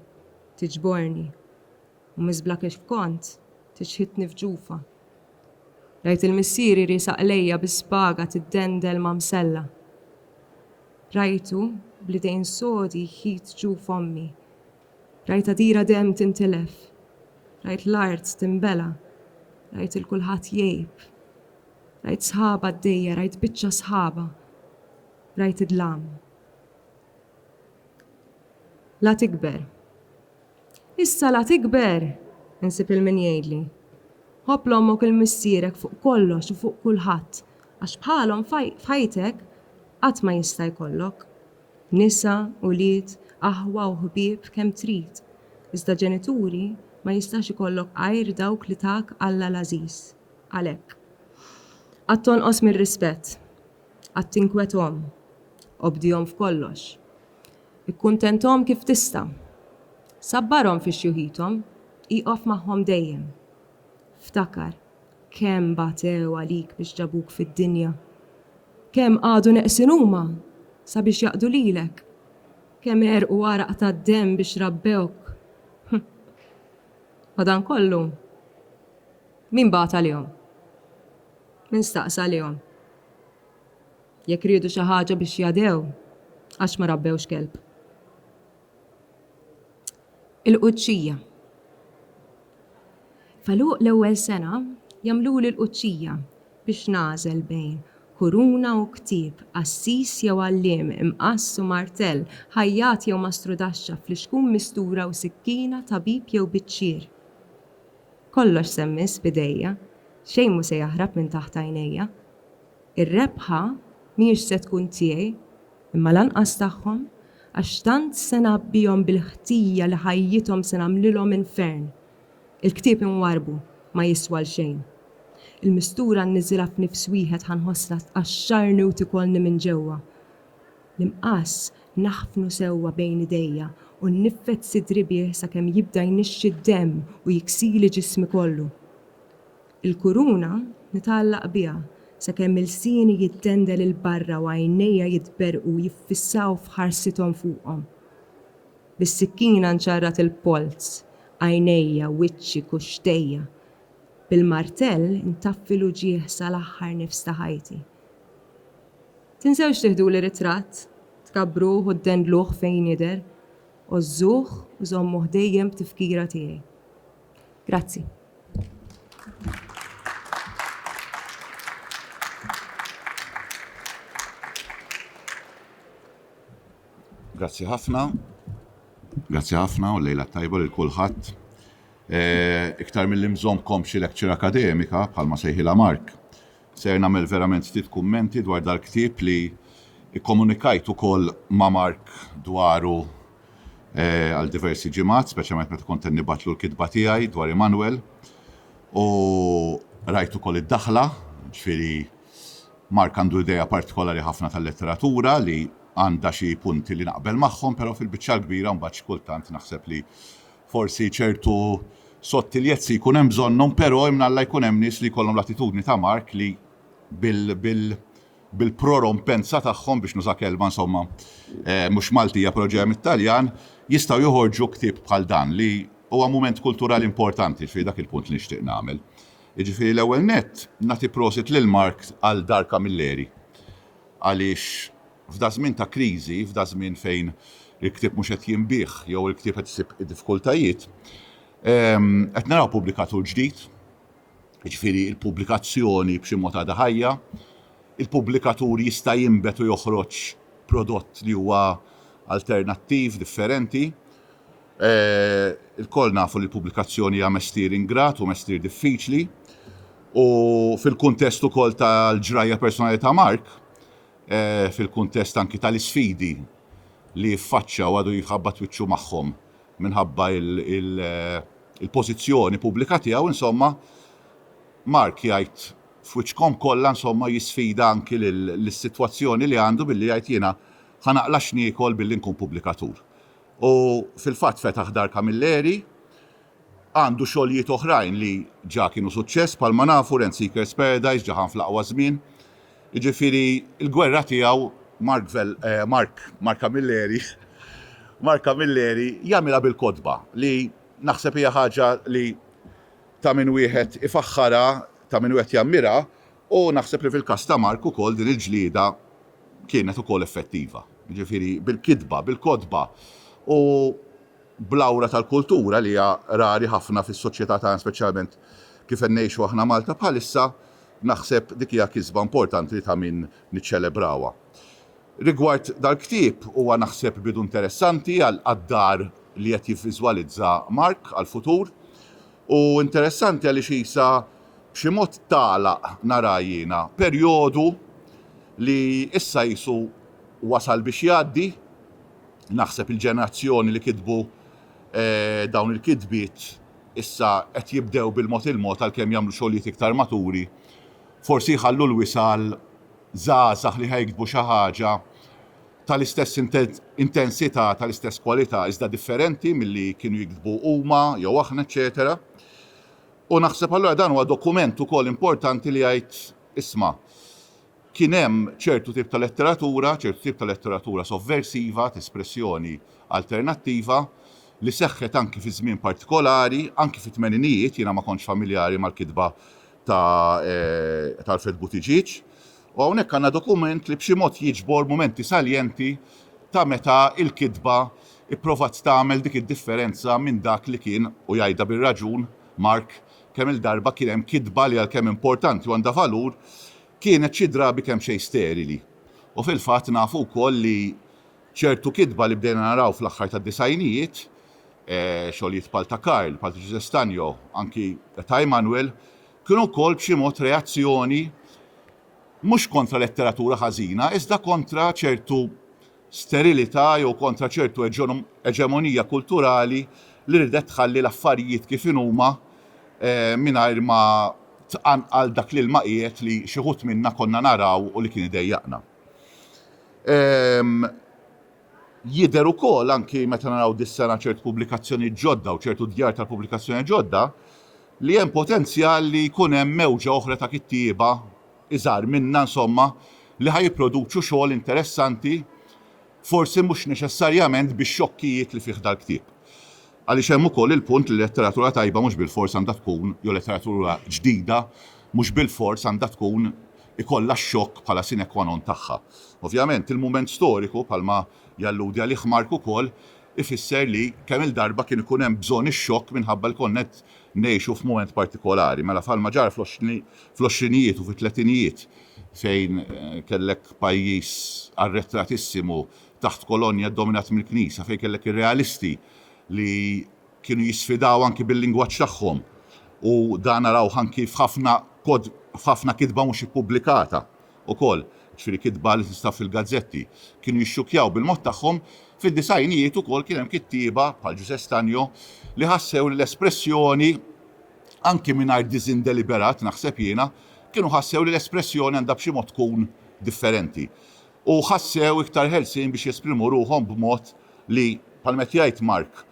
tiġborni, u miżbla kif kont, tiċħitni f'ġufha. Rajt il-missieri riesaq lejja bi spaga tiddendel ma' msella. Rajtu bl-idejn sodi jħit ġu f'ommi. Rajt għadira demm tintilef. Rajt l-art tinbela'. Rajt 'il kulħadd jgħib. Rajt sħaba għaddejja, rajt biċċa sħaba. Rajt id-dlam. La tikber. Issa la tikber! Insib lil min jgħidli. Ħobb 'l ommok u 'l missierek fuq kollox u fuq kulħadd għax bħalhom f'ħajtek qatt ma jista' jkollok. Nisa, ulied, aħwa u ħbieb kemm trid, iżda ġenituri ma jistax ikollok għajr dawk li tak Alla l-għażiż. Għalhekk. Qatt tonqos mir-rispett. Qatt tinkwet omm. Obdihom f'kollox. Ikkuntenthom kif tista'. Sabbarhom fi xjuħithom, ieqaf magħhom dejjem. Ftakar kemm batew għalik biex ġabuk fid-dinja. Kemm qagħdu neqsin huma sabiex jaqdu lilek. Kemm għerqu għaraq tad-demm biex rabbewk. Madankollu, min bagħat għalihom? Min staqsa għalihom? Jekk riedu xi ħaġa biex jadhew, għax ma rabbewx kelb. Il-qudxija. F'għeluq l-ewwel sena jagħmluli l-qudxija biex nagħżel bejn kuruna u ktieb, qassis jew għalliem, imqass u martell, ħajjat jew mastrudaxxa, flixkun mistura u sikkina, tabib jew biċċier. Kollox se mmiss b'idejja, xejn mhu se jaħrab minn taħt għajnejja. Ir-rebħa mhijiex se tkun tiegħi, imma lanqas tagħhom, għax tant se ngħabbihom bil-ħtija li ħajjithom se nagħmlilhom infern. Il-ktieb imwarrbu ma jiswa għal xejn. Il-mistura nniżilha f'nifs wieħed ħa nħossha tqaxxarni u tikolni minn ġewwa. L-imqass naħfnu sewwa bejn idejja u nniffed sidri bih sakemm jibda jnixxi d-demm u jiksili ġismi kollu. Il-kuruna nitgħallaq biha sakemm ilsieni jittendel 'il barra u għajnejja jitberrqu jiffissaw f'ħarsithom fuqhom. Bis-sikkina nċarrat il-polz, għajnejja, wiċċi, kuxxtejja. Bil-martell intaffi l-uġigħ sal-aħħar nifs ta' ħajti. Tinsewx tiħduli ritratt, tkabbruh u ddendluh fejn jidher. Għożżuh u żommu ħdejjem b'tifkira tiegħi. Grazzi. Grazzi ħafna. Grazzi ħafna u lejla tajba lil kulħadd. Eh, iktar mill-li mżomkom xi lecture akademika bħalma sejħila Mark. Ser nagħmel verament ftit kummenti dwar dal-ktieb li kkomunikajt ukoll ma' Mark dwaru għal diversi ġimgħat, speċjalment meta kont qed nibgħatlu l-kitba tiegħi dwar Immanuel. U rajt ukoll id-daħla, ġifieri Mark għandu idea partikolari ħafna tal-letteratura li għandha xi punti li naqbel magħhom, però fil-biċċa l-kbira mbagħad xi kultant naħseb li Forsi ċertu sottiljezzi jkun hemm bżonnhom però imnalla jkun hemm nies li jkollhom l-attitudni ta' Mark li bil-prorompenza tagħhom, biex nuża kelma insomma mhux Maltija però ġejja mit-Taljan, jistgħu joħorġu ktieb bħal dan li huwa mument kulturali importanti, jiġifieri dak il-punt li nixtieq nagħmel. Jiġifieri l-ewwel nett nagħti prosit lil Mark għal Dar Camilleri għaliex, F'daż-żmien ta' kriżi, f'daż-żmien fejn il-ktieb mhux qed jinbiegħ jew il-ktieb qed isib diffikultajiet, qed naraw pubblikatur ġdid, jiġifieri l-pubblikazzjoni b'xi mod għadha ħajja, il-pubblikatur jista' jinbet u joħroġ prodott li huwa alternattiv, differenti. Ilkoll nafu li l-pubblikazzjoni hija mestier ingrat u mestier diffiċli u fil-kuntest ukoll tal-ġrajja personali ta' Mark, fil-kuntest anki tal-isfidi li jiffaċċja u għadu jħabbat wiċċu magħhom minħabba l-pożizzjoni pubblika tiegħu insomma Mark jgħid f'wiċċkom kollha insomma jisfida anki lis-sitwazzjoni li għandu billi jgħid jiena ħa naqla' x'niekol billi nkun pubblikatur. U fil-fatt fetaħ Dar Camilleri, għandu xogħlijiet oħrajn li ġa kienu suċċess bħalma nafu Rent Seekers Paradise ġa ħan fl-aqwa żmien, jiġifieri l-gwerra tiegħu Mark Camilleri Mark Camilleri jagħmilha bil-kotba li naħseb hija ħaġa li ta' min wieħed ifaħħarha ta' min wieħed jammirha u naħseb li fil-każ ta' Mark ukoll din il-ġlieda kienet ukoll effettiva jiġifieri bil-kitba bil-kotba u bl-awra tal-kultura li hija rari ħafna fis-soċjetà tagħna speċjalment kif qed ngħixu aħna Malta bħalissa Naħseb dik hija kisba importanti ta' min niċċelebrawha. Rigward dal-ktieb, huwa naħseb bidu interessanti għad-dar li qed jivviżwalizza Mark għall-futur. U interessanti għaliex qisha b'xi mod tagħlaq, nara jiena, perjodu li issa qisu wasal biex jgħaddi. Naħseb il-ġenerazzjoni li kitbu dawn il-kitbiet, Issa qed jibdew bil-mod il-mod għalkemm jagħmlu xogħlijiet iktar maturi, forsi jħallu l-wisa' għal żgħażagħ li ħa jiktbu xi ħaġa tal-istess intensità, tal-istess kwalità iżda differenti milli kienu jiktbu huma jew aħna eċċetera. U naħseb allura dan huwa dokument ukoll importanti li jgħid, isma', Kien hemm ċertu tip ta' letteratura, ċertu tip ta' letteratura sovversiva, t'espressjoni alternattiva, li seħħet anki fi żmien partikolari, anki fit-tmeninijiet, jiena ma kontx familjari mal-kitba ta' ta' Alfred Buttigieg, u hawnhekk għandna dokument li b'xi mod jiġbor mumenti saljenti ta' meta l-kitba pprovat tagħmel dik id-differenza minn dak li kien, u jgħidha bir-raġun Mark, Kemm-il darba kien hemm kitba li għalkemm importanti u għandha valur, kienet xi drabi kemxejn sterili. U fil-fatt nafu wkoll li ċertu kitba li bdejna naraw fl-aħħar tad-disgħinijiet, xogħlijiet bħal ta' Karl, bħal ta' Ġużè Stagno, anki ta' Immanuel, kienu wkoll b'xi mod reazzjoni mhux kontra letteratura ħażina iżda kontra ċertu sterilità jew kontra ċertu eġemonija kulturali li riedet tħalli l-affarijiet kif inhuma mingħajr ma tqanqal dak l-ilma qiegħed li xi wħud minna konna naraw u li kien idejjaqna. Jidher ukoll, anki meta naraw dis-sena ċertu pubblikazzjonijiet ġodda u ċertu djar tal-pubblikazzjoni ġodda, li hemm potenzjal li jkun hemm mewġa oħra ta' kittieba iżgħar minna insomma li ħa jipproduċu xogħol interessanti forsi mhux neċessarjament bix-xokkijiet li fih dal-ktieb. Għaliex hemm ukoll il-punt li letteratura tajba mhux bilfors għandha tkun jew letteratura ġdida mhux bilfors għandha tkun ikollha x-xokk bħala sine qua non tagħha. Ovvjament, il-mument storiku, bħalma jalludi għalih Mark ukoll, ifisser li kemm-il darba kien ikun hemm bżonn ix-xokk minħabba li konna qed Ngħixu f'mument partikolari, mela bħalma ġara fl-għoxrinijiet u fit-tletinijiet fejn kellek pajjiż arretratissimu taħt kolonja ddominat mill-Knisja, fejn kellek ir-realisti li kienu jisfidaw anki bil-lingwaġġ tagħhom u dan narawh anki f'ħafna kitba mhux ippubblikata ukoll, jiġifieri kitba li tinstab fil-gazzetti, kienu jixxukkjaw bil-mod tagħhom, fid-disgħinijiet ukoll kien hemm kittieba, bħal Ġużè Stagno, li ħassew li l-espressjoni, anki mingħajr disinn deliberat, naħseb jiena, kienu ħassew li l-espressjoni għandha b'xi mod tkun differenti. U ħassew iktar ħelsien biex jesprimu ruħhom b'mod li, bħalma qed jgħid Mark,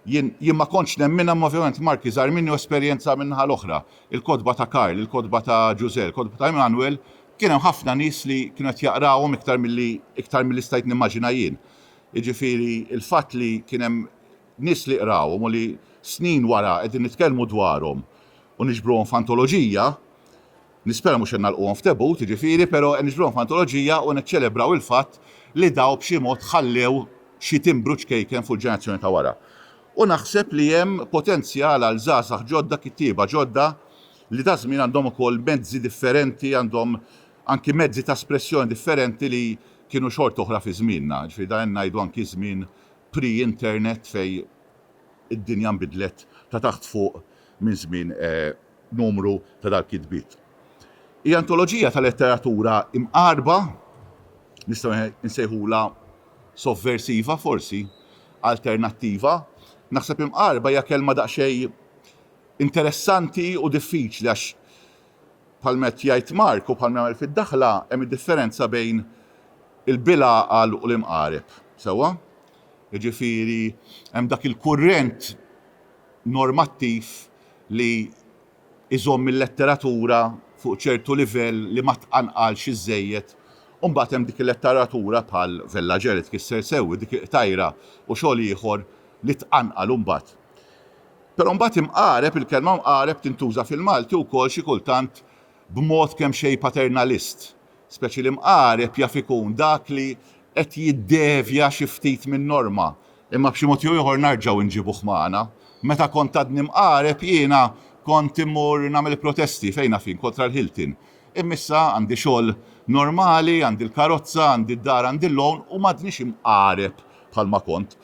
Jien, jien ma kontx nemminha imma ovvjament Mark iżgħar minni u esperjenzha min-naħa l-oħra. Il-kotba ta' Karl, il-kotba ta' Ġużè, il-kotba ta' Emanuel, kien hemm ħafna nies li kienu qed jaqrawhom iktar milli, iktar milli stajt nimmaġina jien. Jiġifieri l-fatt li kien hemm nies li qrawhom u li snin wara qegħdin nitkellmu dwarhom u niġbruhom f'antoloġija, Nispera mhux qed nagħlquhom f'debut, jiġifieri, però qed niġbruhom f'antoloġija u niċċelebraw il-fatt li daw b'xi mod ħallew xi timbru ċkejken fuq il-ġenerazzjoni ta' wara. U naħseb li hemm potenzjal għal żgħażagħ ġodda, kittieba ġodda li daż-żmien għandhom ukoll mezzi differenti, għandhom anki mezzi ta' espressjoni differenti li kienu xorta oħra fi żmienna. Jiġifieri dan qed ngħidu anki żmien pre-internet fejn id-dinja nbidlet ta' taħt fuq. minn żmien numru ta' dal-kitbiet. Hi antoloġija ta' letteratura imqarrba, nistgħu nsejħulha sovversiva forsi, alternattiva. Naħseb imqarrba hija kelma daqsxejn interessanti u diffiċli għax bħalma qed jgħid Mark u bħalma jagħmel fid-daħla hemm id-differenza bejn il-bilgħaqal u l-imqareb, sewwa? Jiġifieri hemm dak il-kurrent normattiv li jżomm il-letteratura fuq ċertu livell li ma tqanqalx iżżejjed u mbagħad hemm dik il-letteratura bħal Vella Ġe li tkisser sew dik il-qtajra u xogħol ieħor li tqanqal imbagħad. Però mbagħad imqareb, il-kelma mqareb tintuża fil-Malti wkoll xi kultant b'mod kemxejn paternalist, speċi li mqareb jaf ikun dak li qed jiddevja xi ftit min-norma, Imma b'xi mod jew ieħor narġgħu nġibuh magħna. Meta kont għadni mqareb jiena kont immur nagħmel protesti fejn afin kontra l-Hilton. Imma issa għandi xogħol normali, għandi l-karozza, għandi d-dar, għandi l-loan u m'għadnix mqareb bħalma kont.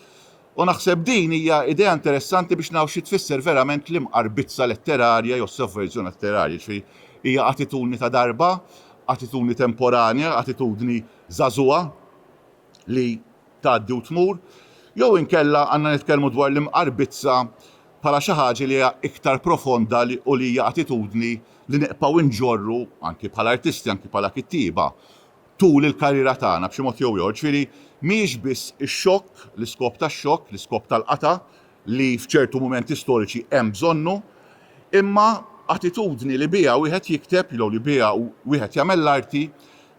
U naħseb din hija idea interessanti biex naraw xi tfisser verament l-imqarbizza letterarja jew sovverżjoni letterarja. Jiġifieri hija attitudni ta' darba, attitudni temporanja, attitudni żagħżugħa, li tgħaddi u tmur, jew inkella għandna nitkellmu dwar l-imqarbizza bħala xi ħaġa li hija iktar profonda li u li hija attitudni li nibqgħu nġorru anki bħala artisti, anki bħala kittieba tul il-karriera tagħna b'xi mod jew ieħor. Ġifieri mhijiex biss ix-xokk, l-iskop tax-xokk, l-iskop tal-qatgħa li f'ċertu mumenti storiċi hemm bżonnu, imma attitudni li biha wieħed jikteb jew li biha wieħed jagħmel l-arti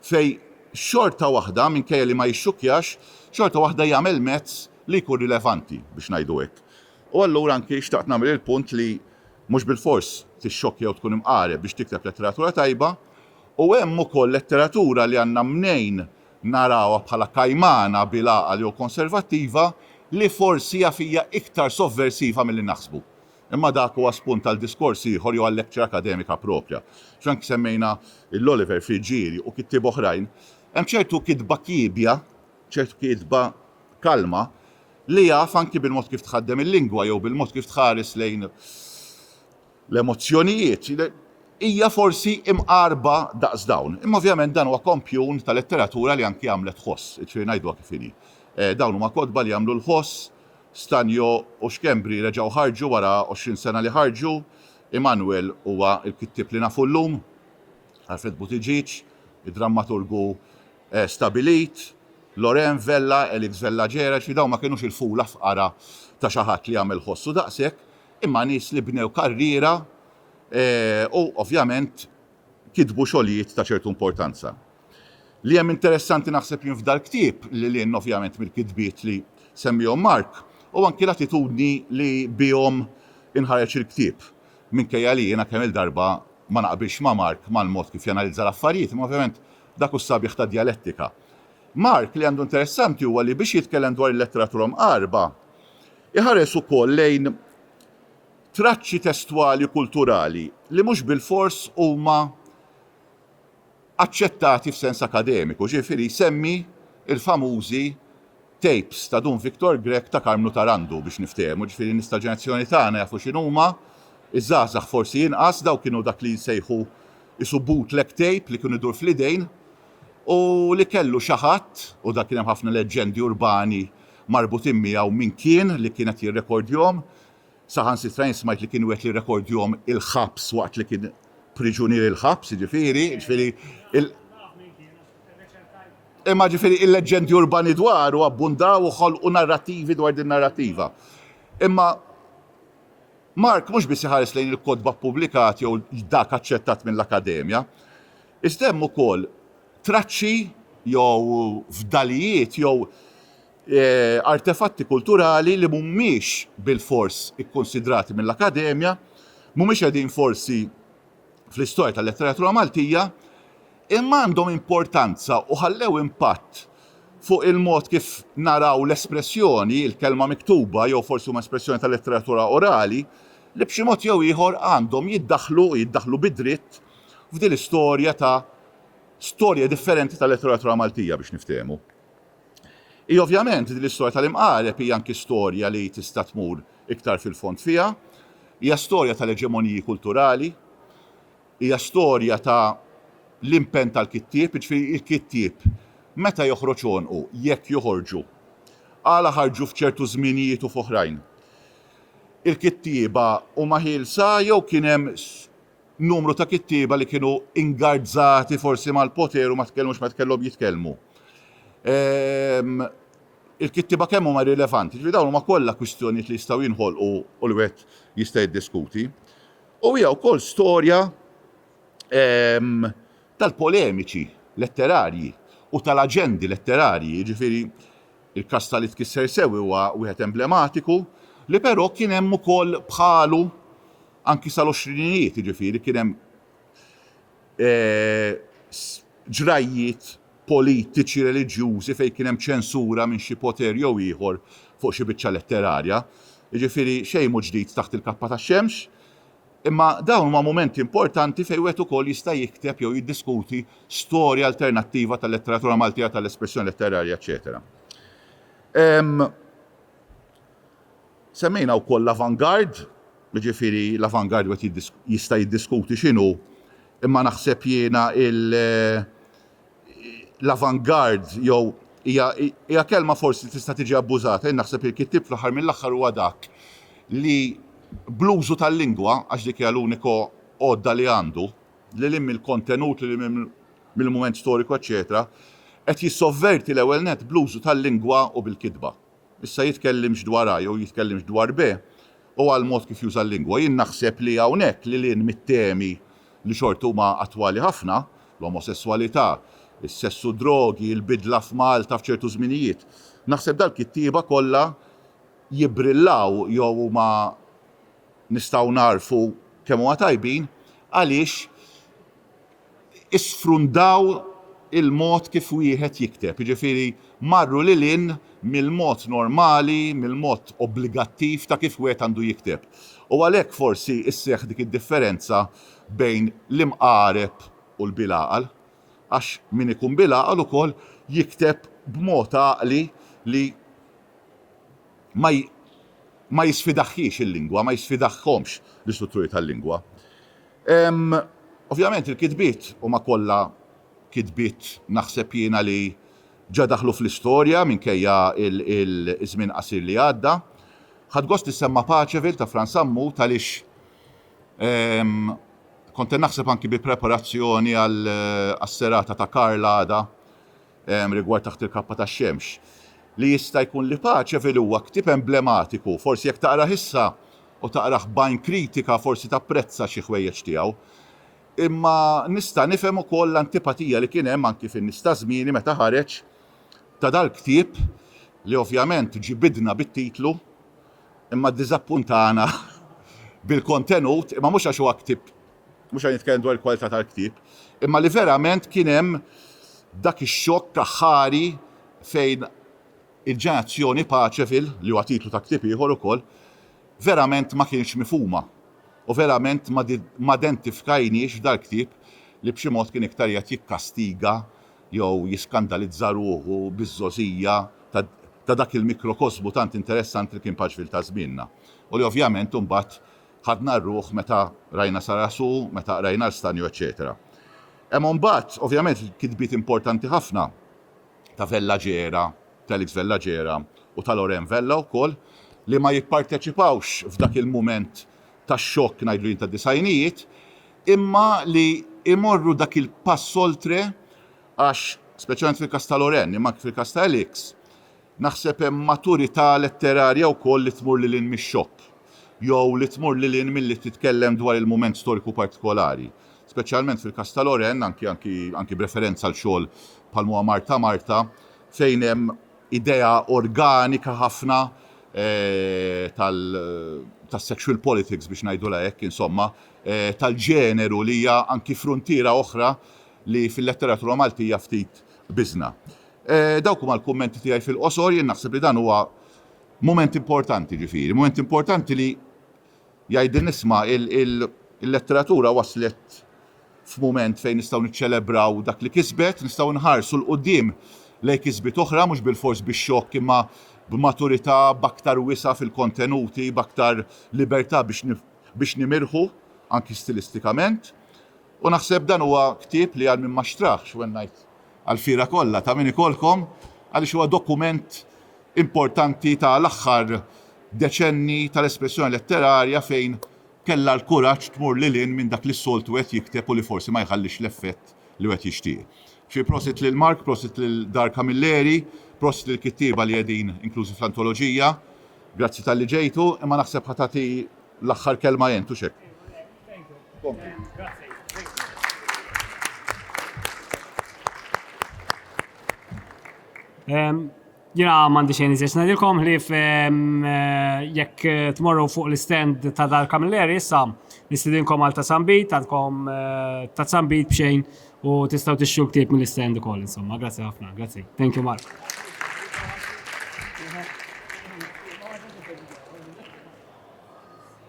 fejn xorta waħda, minkejja li ma jixxukkjax, xorta waħda jagħmel mezz li jkun rilevanti, biex ngħidu hekk. U allura anki xtaqt nagħmel il-punt li mhux bilfors tixxokkja jew tkun imqareb biex tikteb letteratura tajba, u hemm ukoll letteratura li għandna mnejn narawha bħala kajmana bil-għaqal jew konservattiva li forsi hija fija iktar sovversiva milli naħsbu. Imma dak huwa spunt għal diskors ieħor jew għal lecture akademika proprja. Frank semmejna l-Oliver Friggieri u kittieb oħrajn. Hemm ċertu kitba kiebja, ċertu kitba kalma li jaf anki bil-mod kif tħaddem il-lingwa jew bil-mod kif tħares lejn l-emozzjonijiet, hija forsi imqarba daqs dawn. Imma ovvjament dan huwa kompjun ta' letteratura li anki għamlet ħoss, jiġifieri ngħiduha kif inhi. Dawn huma kotba li jagħmlu l-ħoss, Stanjo u Schembri reġgħu ħarġu wara għoxrin sena li ħarġu. Immanuel huwa l-kittieb li nafu llum, Alfred Buttigieg, id-drammaturgu stabbilit, Loren Vella, Elix Vella Ġereġ, li dawn ma kinux il-fula fqara ta' xi ħadd li jagħmel ħossu daqshekk, imma nies li bnew karriera u ovvjament kitbu xogħlijiet ta' ċertu importanza. Li hemm interessanti naħseb jien f'dal ktieb, lil hinn ovvjament mill-kitbiet li semmihom Mark, hu anki l-attitudni li bihom inħareġ il-ktieb. Minkejja li jiena kemm-il darba ma naqbilx ma' Mark mal-mod kif janalizza l-affarijiet, imma ovvjament dak hu s-sabiħ tad-djalettika. Mark li għandu interessanti huwa li biex jitkellem dwar il-letteratura Mqarbha, iħares ukoll lejn traċċi testwali kulturali li mhux bilfors huma aċċettati f'sens akademiku, ġifieri jsemmi l-famużi tapes ta' Dun Victor Grech ta' Karmnu Tarandu biex niftehmu, ġifieri n-nies tal-ġenerazzjoni tagħna jafu x'inhuma, iż-żgħażagħ forsi inqas, dawk kienu dak li jsejħu qisu bootleg tape li kien idur fl-idejn u li kellu xi ħadd, u dan kien hemm ħafna leġġendi urbani marbutin miegħu min kien li kien qed jirrekordjhom. Saħansitra jien smajt li kien wegħed li jrekordjhom il-ħabs waqt li kien priġunier il-ħabs, jiġifieri, jiġifieri il- Imma ġifieri il-leġġendi urbani dwaru abbundaw u ħolqu narrattivi dwar din narrattiva. Imma Mark mhux biss iħares lejn il-kotba ppubblikat jew dak aċċettat mill-Akkademja, iżda hemm ukoll traċċi jew fdalijiet jew artefatti kulturali li mhumiex bilfors ikkunsidrati mill-Akkademja, mhumiex qegħdin forsi fl-istorja tal-letteratura Maltija, imma għandhom importanza u ħallew impatt fuq il-mod kif naraw l-espressjoni, il-kelma miktuba jew forsi huma espressjoni tal-letteratura orali, li b'xi mod jew ieħor għandhom jiddaħħlu u jiddaħħlu bid-dritt f'din l-istorja ta' storja differenti tal-letteratura Maltija biex niftehmu. Hi ovvjament din l-istorja tal-imqareb hi anki storja li tista' tmur iktar fil-fond fiha. Hija storja tal-eġemoniji kulturali, hija storja ta' l-impenn tal-kittieb, jiġifieri il-kittieb meta joħroġ għonqu, jekk joħorġu, għala ħarġu f'ċertu żminijiet u f'oħrajn. Il-kittieba huma ħielsa jew kien hemm numru ta' kittieba li kienu ingarzzati forsi mal-poter u ma tkellmux meta kellhom jitkellmu. Ehm, il-kittieba kemm huma rilevanti, ġifieri dawn huma kollha kwistjonijiet li jistgħu jinħolqu u li wieħed jista' jiddiskuti. U hija wkoll storja ehm, tal-polemiċi letterarji u tal-aġendi letterarji, ġifieri il-każ tal-li tkisser sew huwa wieħed emblematiku, li però kien hemm ukoll bħalu Anki sal-għoxrinijiet, jiġifieri, kien hemm ġrajjiet politiċi, reliġjużi fejn kien hemm ċensura minn xi poter jew ieħor fuq xi biċċa letterarja. Jiġifieri, xejn mhu ġdid taħt il-kappa tax-xemx, imma dawn huma mumenti importanti fejn wieħed ukoll jista' jikteb jew jiddiskuti storja alternattiva tal-letteratura Maltija, tal-espressjoni letterarja, eċċetera. Semmejna wkoll l-avant-garde, jiġifieri l-avant-garde wieħed jista' jiddiskuti x'inhu, imma naħseb jiena l-avant-garde jew hija hija kelma forsi li tista' tiġi abbużata, jien naħseb li l-kittieb fl-aħħar mill-aħħar huwa dak li bl-użu tal-lingwa, għax dik hija l-unika għodda li għandu, lil hinn mill-kontenut, lil hinn mill-mument storiku eċċetera, qed jissovverti l-ewwel nett bl-użu tal-lingwa u bil-kitba. Issa jitkellimx dwar A jew jitkellimx dwar B, huwa l-mod kif juża l-lingwa. Jien naħseb li hawnhekk lil hinn mit-temi li xorta huma attwali ħafna, l-omosesswalità, is-sess u d-drogi, il-bidla f'Malta f'ċertu żminijiet, naħseb dal-kittieba kollha jibbrillaw jew huma nistgħu nagħrfu kemm huma tajbin għaliex isfrundaw il-mod kif wieħed jikteb, jiġifieri marru lil hinn mill-mod normali, mill-mod obbligattiv ta' kif wieħed għandu jikteb. U għalhekk forsi sseħħ dik id-differenza bejn l-imqareb u l-bilgħaqal, għax min ikun bilgħaqal ukoll jikteb b'mod għaqli li ma ma jisfidahhiex il-lingwa, ma jisfidahhomx l-istrutturi tal-lingwa. Ovvjament il-kitbiet huma kollha kitbiet naħseb jiena li ġa daħlu fl-istorja minkejja ż-żmien qasir li għadda. Ħadt gost li ssemma' Paceville ta' Frans Sammut għaliex kont qed naħseb anki bi preparazzjoni għas-serata ta' Karl għada rigward Taħt il-Kappa tax-Xemx li jista' jkun li Paceville huwa ktieb emblematiku, forsi jekk taqrah issa u taqrah b'għajn kritika forsi tapprezza xi ħwejjeġ tiegħu. Imma nista' nifhem ukoll l-antipatija li kien hemm anki fin-nies ta' żmieni meta ħareġ ta' dal-ktieb li ovvjament ġibidna bit-titlu imma ddiżappuntana bil-kontenut imma mhux għax huwa ktieb mhux qed nitkellem dwar il-kwalità tal-ktieb imma li verament kien hemm dak ix-xokk aħħari fejn Il-ġenerazzjoni Paċefil, li huwa titlu ta' ktieb ieħor ukoll, verament ma kienx mifhuma u verament ma dentifkajniex f'dal-ktieb li b'xi mod kien iktar qiegħed jikkastiga jew jiskandalizza ruħu biz-żgħożija ta' dak il-mikrokosmu tant interessanti li kien Paċefil ta' żmienna u li ovvjament imbagħad ħadna r-ruħ meta qrajna Sarasù, meta qrajna l-Stanju eċċetera. Hemm imbagħad, ovvjament, kitbiet importanti ħafna. ta' Vella Gera, Felix Vella Gera u ta' Loren Vella wkoll, li ma jipparteċipawx f'dak il-mument ta' xokk ngħidlu jien tad-disgħinijiet, imma li jmorru dak il-pass oltre għax, speċjalment fil-każ ta' Loren, imma anke fil-każ ta' Elix, naħseb hemm maturità letterarja wkoll li tmur lil hinn mix-xokk jew li tmur lil hinn milli titkellem dwar il-mument storiku partikolari. speċjalment fil-każ ta' Loren, anki anki anki b'referenza għal xogħol bħal m'huwa Marta Marta, fejn hemm idea organika ħafna tal tas-sexual politics biex ngħidulha hekk, insomma, tal-ġeneru li hija anki fruntiera oħra li fil-letteratura Maltija ftit biżna. Dawk huma l-kummenti tiegħi fil-qosor, jien naħseb li dan huwa mument importanti ġifieri, mument importanti li Jgħid din isma', il-letteratura waslet f'mument fejn nistgħu niċċelebraw dak li kisbet, nistgħu nħarsu 'l quddiem lejn kisbiet oħra mhux bilfors bix-xokk imma b'maturità, b'aktar wisa' fil-kontenuti, b'aktar libertà biex nimirħu anki stilistikament. U naħseb dan huwa ktieb li għal min ma xtraħx, when I. għall-fiera kollha ta' min ikollkom għaliex huwa dokument importanti ta' l-aħħar deċenni tal-espressjoni letterarja fejn kellha l-kuraġġ tmur lil hinn minn dak li s-soltu wieħed jikteb u li forsi ma jħallix l-effett li wieħed jixtieq. Fi prosit lil Mark, prosit lil Dar Camilleri, prosit lill-kittieba li qegħdin inklużi fl-antoloġija. Grazzi talli ġejtu, imma naħseb ħa tagħti l-aħħar kelma int, hux hekk? Jena mandi xejn iżiex nadilkom li jekk tmorru fuq l-stand ta' dal kamilleri issa nistidinkom għal ta' sambit, għandkom ta' sambit bxejn u tistaw tixxu ktib mill-stand ukoll insomma. Grazzi ħafna. Grazzi. Thank you Mark.